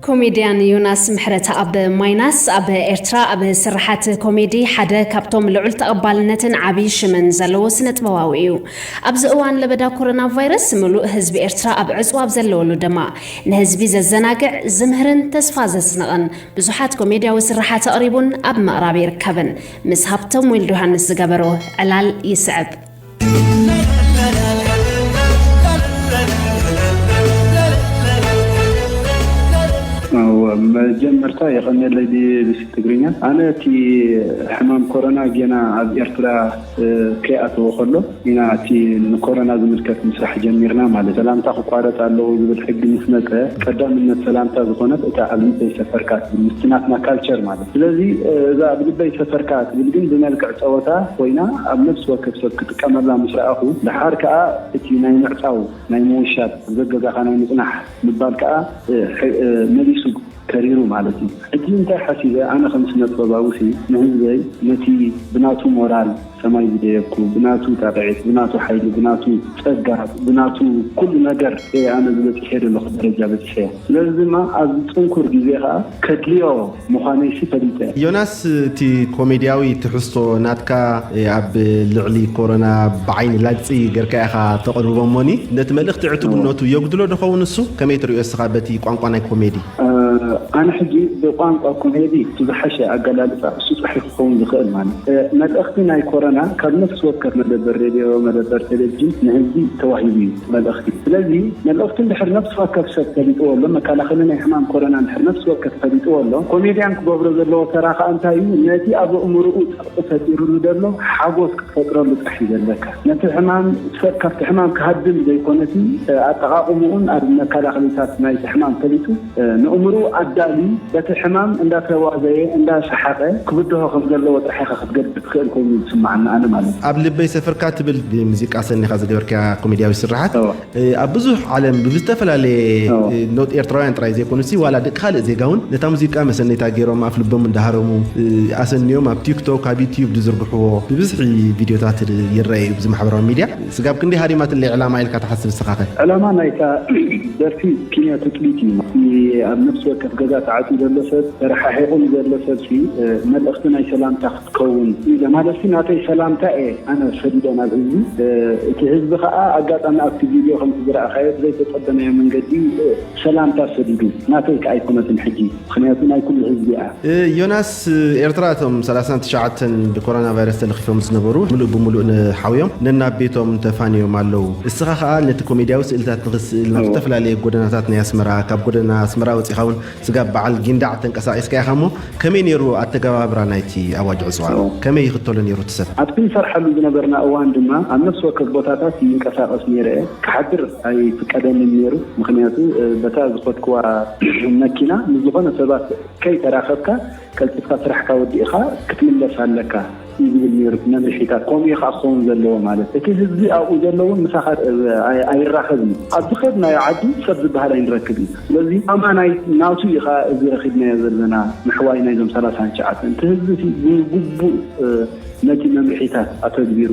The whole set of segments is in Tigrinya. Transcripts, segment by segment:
ኮሜድያን ዮናስ ምሕረተኣብ ማይናስ ኣብ ኤርትራ ኣብ ስርሓት ኮሜዲ ሓደ ካብቶም ልዑል ተቐባልነትን ዓብዪ ሽምን ዘለዎ ስነጥበባዊ እዩ። ኣብዚ እዋን ለበዳ ኮሮና ቫይረስ ምሉእ ህዝቢ ኤርትራ ኣብ ዕጽዋ ኣብ ዘለወሉ ደማ ንህዝቢ ዘዘናግዕ፣ ዝምህርን ተስፋ ዘስንቕን ብዙሓት ኮሜድያዊ ስርሓት ኣቕሪቡን ኣብ ምቕራብ ይርከብን። ምስ ሃብቶም ዊልድዮሃንስ ዝገበሮ ዕላል ይስዕብ። መጀመርታ የቀኔለይ ቢቢሲ ትግርኛ ኣነ እቲ ሕማም ኮሮና ጌና ኣብ ኤርትራ ከይኣተወ ከሎ ኢና እቲ ንኮሮና ዝምልከት ምስራሕ ጀሚርና ማለት ሰላምታ ክቋረጽ ኣለዎ ዝብል ሕጊ ምስ መጸ ቀዳምነት ሰላምታ ዝኮነት እታ ኣብ ልዕሊተይ ሰፈርካ ትብል ምስቲ ናትና ካልቸር ማለት ስለዚ እዛ ኣብ ልበይ ሰፈርካ እትብል ግን ብመልክዕ ጸወታ ኮይና ኣብ ነፍሲ ወከፍ ሰብ ክጥቀመላ ምስ ረኣኹ ደሓር ከኣ እቲ ናይ ምዕጻው ናይ ምውሻብ ኣብ ገገዛኻ ናይ ምጽናሕ ምባል ከኣ መሊሱ ከሪሩ ማለት እዩ እቲ እንታይ ሓሲበ ኣነ ከም ስነጥበባዊሲ ንህዝበይ ነቲ ብናቱ ሞራል ሰማይ ዝደየብኩ ብናቱ ጣቕዒት ብናቱ ሓይሊ ብናቱ ጸጋ ብናቱ ኩሉ ነገር እየ ኣነ እዚ በጺሐዮ ዘለኹ ደረጃ በጺሐ ስለዚ ድማ ኣብዚ ጽንኩር ግዜ ከኣ ከድልዮ ምዃነይሲ ፈሊጠ። ዮናስ እቲ ኮሜድያዊ ትሕዝቶ ናትካ ኣብ ልዕሊ ኮሮና ብዓይኒ ላግጺ ገርካ ኢኻ ተቕርቦ እሞኒ ነቲ መልእኽቲ ዕቱብነቱ የጉድሎ ዶ ኸውን እሱ ከመይ ትርእዮ እስኻ በቲ ቋንቋ ናይ ኮሜዲ? ኣነ ሕጂ ብቋንቋ ኮሜዲ እቲ ዝሓሸ ኣገላልጻ እሱ ጥራሕ እዩ። ክኸውን ዝኽእል ማለት መልእኽቲ ናይ ኮረና ካብ ነፍሲ ወከፍ መደበር ሬድዮ መደበር ቴሌቪዥን ንህዝቢ ተዋሂቡ እዩ መልእኽቲ ስለዚ መልእኽቱ እንድሕር ነፍሲ ወከፍ ሰብ ፈሊጥዎ ኣሎ መካላኸሊ ናይ ሕማም ኮረና እንድሕር ነፍሲ ወከፍ ፈሊጥዎ ኣሎ ኮሜድያን ክገብሮ ዘለዎ ተራ ከኣ እንታይ እዩ ነቲ ኣብ ኣእምርኡ ጸቕጢ ፈጢርሉ ዘሎ ሓጎስ ክትፈጥረሉ ጥራሕ እዩ ዘለካ ነቲ ሕማም ሰብ ካብቲ ሕማም ክሃድም ዘይኮነቲ ኣጠቓቕምኡን ኣብ መካላኸሊታት ናይቲ ሕማም ፈሊጡ ነእምርኡ ኣዳሊ በቲ ሕማም እንዳተዋዘየ እንዳ ሰሓቀ ክብድሆ ከም ዘለዎ ጥራሕ ኢኻ ክትገድድ ትኽእል ኮይኑ እዩ ዝስማዓኒ ኣነ ማለት እዩ። ኣብ ልበይ ሰፍርካ ትብል ሙዚቃ ሰኒኻ ዝገበርካያ ኮሜድያዊት ስርሓት ኣብ ብዙሕ ዓለም ብብዝተፈላለየ ኖት ኤርትራውያን ጥራይ ዘይኮኑሲ ዋላ ደቂ ካልእ ዜጋ ውን ነታ ሙዚቃ መሰነይታ ጌሮም ኣፍ ልቦም እንዳሃረሙ ኣሰንዮም ኣብ ቲክቶክ ኣብ ዩትዩብ ዝዝርግሕዎ ብብዝሒ ቪድዮታት ይረኣ'ዩ ብዚ ማሕበራዊ ሚድያ ስጋብ ክንደይ ሃሪማትለይ ዕላማ ኢልካ ትሓስብ እስኻኸ? ዕላማ ናይታ ደርፊ ኪንዮ ትጽቢት እዩ። እቲ ኣብ ነፍሲ ወከፍ ገዛ ተዓጽዩ ዘሎ ሰብ፣ ተረሓሒቑ ንዘሎ ሰብሲ መልእኽቲ ናይ ሰላምታ ክትከውን ኢለ ማለትሲ ናተይ ሰላምታ እየ ኣነ ሰዲደ ናብ ህዝቢ። እቲ ህዝቢ ከኣ ኣጋጣሚ ኣብቲ ቪድዮ ከምቲ ዝረኣኻዮ ብዘይተጸበናዮ መንገዲ ሰላምታ ሰዲዱ። ናተይከ ኣይኮነትን ሕጂ ምኽንያቱ ናይ ኩሉ ህዝቢ እያ። ዮናስ ኤርትራ እቶም ሰላሳን ትሽዓተን ብኮሮና ቫይረስ ተለኺፎም ዝነበሩ ምሉእ ብምሉእ ንሓውዮም ነናብ ቤቶም ተፋንዮም ኣለው። እስኻ ከኣ ነቲ ኮሜድያዊ ስእልታት ንኽትስእል ናብ ዝተፈላለየ ጎደናታት ናይ ኣስመራ ካብ ጎደና ኣስመራ ወጺኻውን ስጋብ በዓል ጊንዳዕ ተንቀሳቒስካ ኢኻ እሞ ከመይ ነይሩ ኣተገባብራ ናይቲ ኣዋጅ ዕጽዋ? ከመይ ይኽተሎ ነይሩ እቲ ሰብ? ኣብቲ ንሰርሓሉ ዝነበርና እዋን ድማ ኣብ ነፍሲ ወከፍ ቦታታት ይንቀሳቐስ ነይረ እየ። ክሓድር ኣይፍቀደንን ነይሩ ምኽንያቱ በታ ዝኸድክዋ መኪና ምስ ዝኾነ ሰባት ከይተራኸብካ ቀልጢፍካ ስራሕካ ወዲእኻ ክትምለስ ኣለካ እዩ ዝብል ነይሩ እቲ መምርሒታት። ከምኡ እዩ ከኣ ክኸውን ዘለዎ ማለት እቲ ህዝቢ ኣብኡ ዘሎ እውን ምሳኻ ኣይራኸብን እዩ። ኣብ ዝኸድናዮ ዓዲ ሰብ ዝበሃል ኣይንረክብን ኢና። ስለዚ ኣማናይ ናቱ እዩ ከኣ እዚ ረኺብናዮ ዘለና ምሕዋይ ናይዞም ሰላሳን ትሽዓተን። እቲ ህዝቢ እቲ ብግቡእ ነቲ መምርሒታት ኣተግቢሩ፣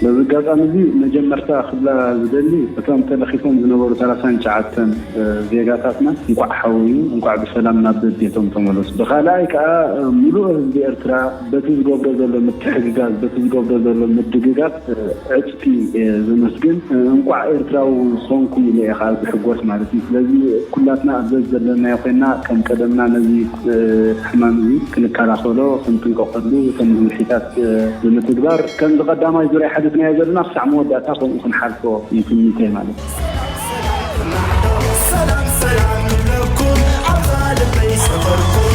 በዚ ኣጋጣሚ እዚ መጀመርታ ክብላ ዝደሊ እቶም ተለኺፎም ዝነበሩ ሰላሳን ትሽዓተን ዜጋታትና እንኳዕ ሓወዩ እንኳዕ ብሰላም ናብ በቤቶም ተመለሱ ብካልኣይ ከኣ ምሉእ ህዝቢ ኤርትራ በቲ ዝገብሮ ዘሎ ምትሕግጋዝ በቲ ዝገብሮ ዘሎ ምድግጋፍ ዕጽፊ ዘመስግን እንኳዕ ኤርትራዊ ኾንኩ ኢለ እየ ከኣ ዝሕጎስ ማለት እዩ ስለዚ ኩላትና ኣብ ዘዘለናዮ ኮይና ከም ቀደምና ነዚ ሕማም እዚ ክንከላኸሎ ክንጥንቀቐሉ እቶም መምርሒታት ብምትግባር ከምዚ ቀዳማይ ዙርያ ሓቲትናዮ ዘለና ክሳዕ መወዳእታ ከምኡ ክንሓልፎ እዩ ትምኒተይ ማለት እዩ። ሰላም ሰላም ሰላም ንብለኩም ኣብዛ ልበይ ሰፈርኩም።